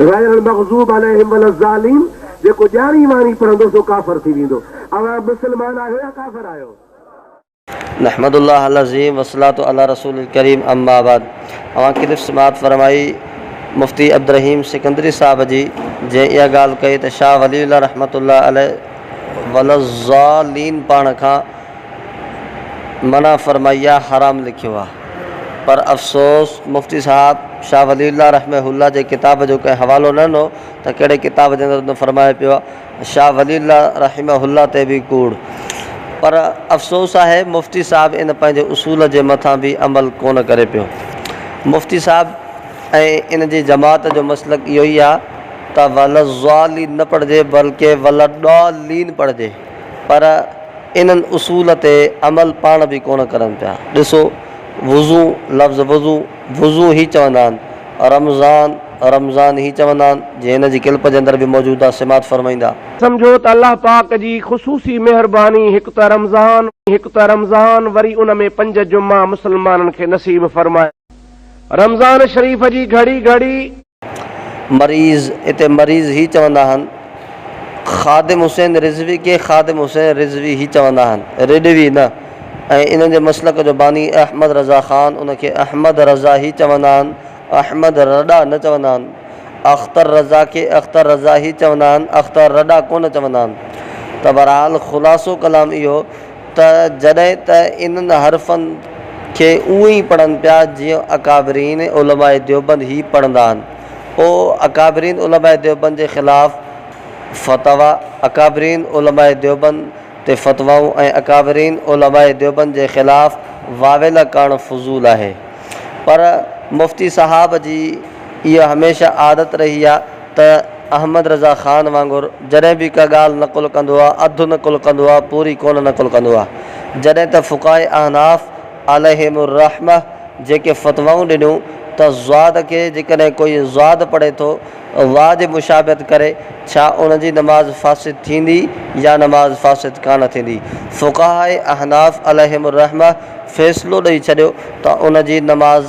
غير المغضوب عليهم ولا الضالين جيڪو ڄاڻي واڻي پڙهندو سو ڪافر ٿي ويندو. اوهان مسلمان آهيو يا ڪافر آهيو؟ نحمد الله العظيم والصلاة علي رسول الڪريم اما بعد اوهان ڪلپ سماعت فرمائي مفتي عبدالرحيم سڪندري صاحب جي جنهن اها ڳالهه ڪئي ته شاهه ولي الله رحمة الله عليه وللضالين پاڻ کان منع فرمائي آ حرام لکيو آ. پر افسوس مفتي صاحب شاھ ولي الله رحمه الله جي ڪتاب جو ڪنهن حوالو نه ڏنو ته ڪهڙي ڪتاب جي اندر ان فرمايو پيو آهي شاھ ولي الله رحمه الله تي به ڪوڙ پر افسوس آهي مفتي صاحب ان پنهنجي اصول جي مٿان به عمل ڪونه ڪري پيو مفتي صاحب ۽ ان جي جماعت جو مسلڪ اهو ئي آهي ته ولضالين نه پڙهجي بلڪه ولضالين پڙهجي. پر انهن اصول تي عمل پاڻ به ڪونه ڪرن پيا. ڏسو وضو لفظ وضو، وضو هي چوندا آهن، رمضان، رمضان هي چوندا آهن، جي هن جي ڪلپ جي اندر به موجود آهي سماعت فرمائيندا. سمجهو ته الله پاڪ جي خصوصي مهرباني هڪ ته رمضان، هڪ ته رمضان وري ان ۾ پنج جمعا مسلمانن کي نصيب فرمايا. رمضان شريف جي گهڙي گهڙي. مريض، اتي مريض هي چوندا آهن. خادم حسين رضوي کي خادم حسين رضوي هي چوندا آهن، رڊوي نه، ۽ انهن جي مسلڪ جو باني احمد رضا خان، ان کي احمد رضا هي چوندا آهن، احمد رڏا نه چوندا آهن. اختر رضا کي اختر رضا هي چوندا آهن، اختر رڏا ڪونه چوندا آهن. ته بهرحال خلاصو ڪلام اهو. ته جڏهن ته انهن حرفن کي اونء ئي پڙهن پيا جيئن اڪابرين علماء ديوبند هي پڙهندا آهن. او اڪابرين علماء ديوبند جي خلاف فتويٰ، اڪابرين علماء ديوبند تي فتوائون ۽ اڪابرين علماء ديوبند جي خلاف واويلا ڪرڻ فضول آهي. پر مفتي صاحب جي اها هميشه عادت رهي آهي ته احمد رضا خان وانگر جڏهن به ڪا ڳالهه نقل ڪندو آ، اڌ نقل ڪندو آ، پوري ڪونه نقل ڪندو آ. جڏهن ته فقهاء احناف عليهم الرحمة جيڪي فتوائون ڏنيون ته ضاد کي جيڪڏهن ڪوئي ضاد پڙهي ٿو واء جي مشابهت ڪري ڇا ان جي نماز فاسد ٿيندي يا نماز فاسد ڪانه ٿيندي؟ فقهاء احناف عليهم الرحمة فيصلو ڏئي ڇڏيو ته ان جي نماز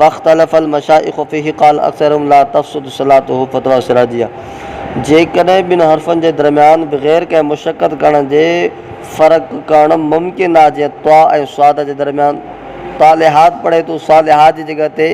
واختلف المشائخ فيه قال اکثرهم لا تفسد صلاته فتويٰ السراجيه جيڪڏهن ٻن حرفن جي درميان بغير ڪنهن مشقت ڪرڻ جي فرق ڪرڻ ممڪن آهي جيئن طاء ۽ صاد جي درميان طالحات پڙهي ٿو صالحات جي جڳهه تي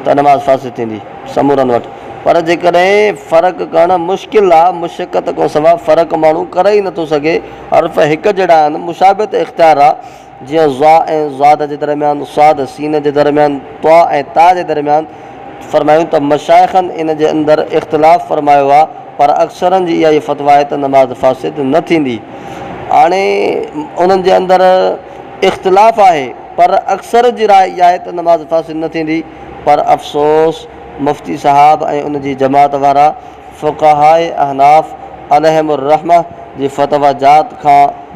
ته نماز فاسد ٿيندي سمورن وٽ پر جيڪڏهن فرق ڪرڻ مشڪل آهي مشقت کان سواء فرق ماڻهو ڪري ئي نٿو سگهي حرف هڪجهڙا آهن مشابهت اختيار آهي جيئن ظاء ۽ ضاد جي درميان، صاد، سين جي درميان، طاء ۽ تاء جي درميان، فرمايون ته مشائخن ان جي اندر اختلاف فرمايو آهي پر اڪثرن جي اها ئي فتويٰ آهي ته نماز فاسد نه ٿيندي. هاڻي انهن جي اندر اختلاف آهي پر اڪثر جي راء اها آهي ته نماز فاسد نه ٿيندي پر افسوس مفتي صاحب ۽ ان جي جماعت وارا فقهاء احناف عليهم الرحمة جي فتويٰ جات کان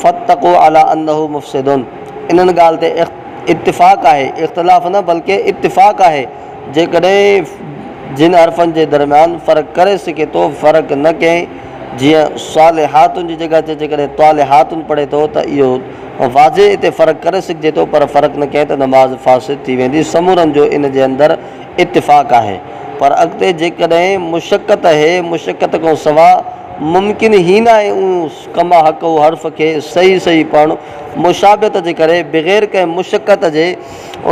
فاتقو علي انه مفسد انهن ڳالهه تي اتفاق آهي، اختلاف نه بلڪه اتفاق آهي، جيڪڏهن جن حرفن جي درميان فرق ڪري سگهي ٿو فرق نه ڪئين جيئن صالحاتن جي جڳهه تي جيڪڏهن طالحاتن پڙهي ٿو ته اهو واضح اتي فرق ڪري سگهجي ٿو پر فرق نه ڪئين ته نماز فاسد ٿي ويندي سمورن جو ان جي اندر اتفاق آهي پر اڳتي جيڪڏهن مشقت هي مشقت کان سوا ممڪن هي ناهي اون ڪما حق او حرف کي صحيح صحيح پڙهڻ مشابهت جي ڪري بغير ڪنهن مشقت جي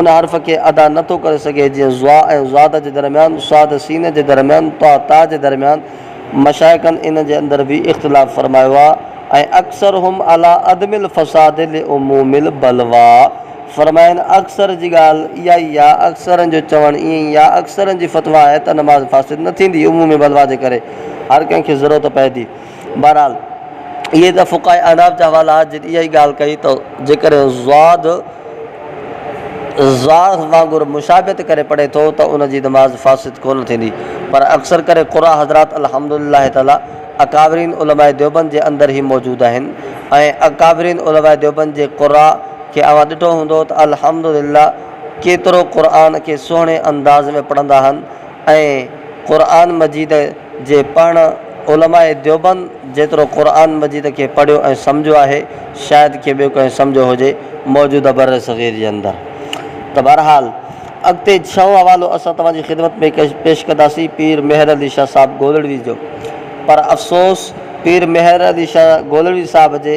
ان حرف کي ادا نه ٿو ڪري سگهي جيئن ضاء ۽ ضاد جي درميان صاد سين جي درميان طاء تاء جي درميان مشائخن ان جي اندر به اختلاف فرمايو آهي ۽ اڪثرهم علي عدم الفساد لعموم البلويٰ فرمائن، اڪثر جي ڳالهه اها ئي يا اڪثرن جو چوڻ ائين ئي يا اڪثرن جي فتويٰ آهي ته نماز فاسد نه ٿيندي عمومي بلويٰ جي ڪري هر ڪنهن کي ضرورت پئي ٿي. بهرحال اهي ته فقهاء احناف جا حوالا هئا جن اها ئي ڳالهه ڪئي ته جيڪڏهن زاد زاهد وانگر مشابهت ڪري پڙهي ٿو ته ان جي نماز فاسد ڪونه ٿيندي پر اڪثر ڪري قرآء حضرات الحمد لله تعاليٰ اڪابرين علماء ديوبند جي اندر هي موجود آهن ۽ اڪابرين علماء ديوبند جي قرآء کي اوهان ڏٺو هوندو ته الحمد لله ڪيترو قرآن کي سهڻي انداز ۾ پڙهندا هن ۽ قرآن مجيد جي پڙهڻ علماء ديوبند جيترو قرآن مجيد کي پڙهيو ۽ سمجهيو آهي شايد ڪي ٻيو ڪنهن سمجهيو هجي موجوده بر صغير جي اندر ته بهرحال اڳتي ڇهون حوالو اسان توهان جي خدمت ۾ پيش ڪنداسين پير مهر علي شاهه صاحب گولڙوي جو پر افسوس پير مهر علي شاهه گولڙوي صاحب جي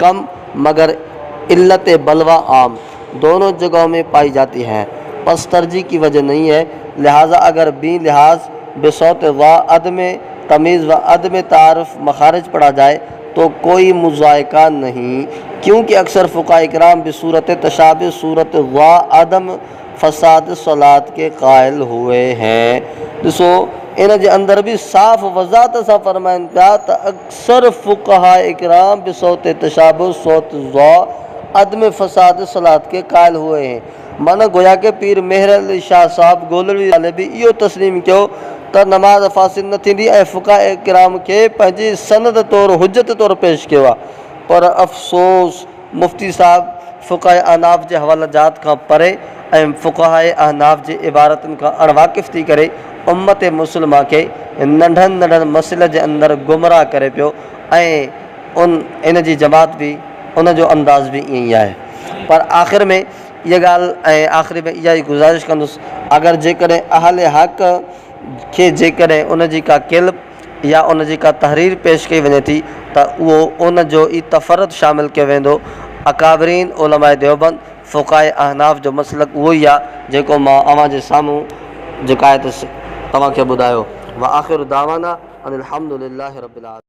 کم مگر علت بلوه عام دونو جگهو مين پائي جاتي هين پس ترجيح ڪي وجه نهين هين لهذا اگر بين لحاظ بصوت و عدم تميز و عدم تعارف مخارج پڙها جائي تو ڪوئي مضايقه نهين ڪيون ڪه اڪثر فقهاء اڪرام بصورت تشابه صورت و عدم فساد صلات ڪي قائل هئي هين ڏسو ان جي اندر به صاف وضاحت سان فرمائين پيا ته سر فقهاء اڪرام به صوت تشابه، صوت ضع، عدم فساد صلاة کي قائل هئي هين. معنيٰ گويا ڪه پير مهر علي شاهه صاحب گولڙي والي به اهو تسليم ڪيو ته نماز فاسد نه ٿيندي ۽ فقهاء اڪرام کي پنهنجي سند طور حجت طور پيش ڪيو آهي. پر افسوس! مفتي صاحب فقهاء احناف جي حوالا جات کان پري ۽ فقهاء احناف جي عبارتن کان اڻ واقف ٿي ڪري امت مسلمه کي ننڍن ننڍن مسئلن جي اندر گمراهه ڪري پيو ۽ ان جي جماعت به ان جو انداز به ائين ئي آهي پر آخر ۾ اها ڳالهه ۽ آخري ۾ اها ئي گذارش ڪندس اگر جيڪڏهن اهل حق کي جيڪڏهن ان جي ڪا ڪيلب يا ان جي ڪا تحرير پيش ڪئي وڃي ٿي ته اهو ان جو ئي تفرد شامل ڪيو ويندو. اڪابرين علماء ديوبند، فقهاء احناف جو مسلڪ اهو ئي آ جيڪو مان اوهان جي سامهون جيڪا آهي ته توهان کي ٻڌايو. وآخر دعوانا ان الحمد لله رب العالمين.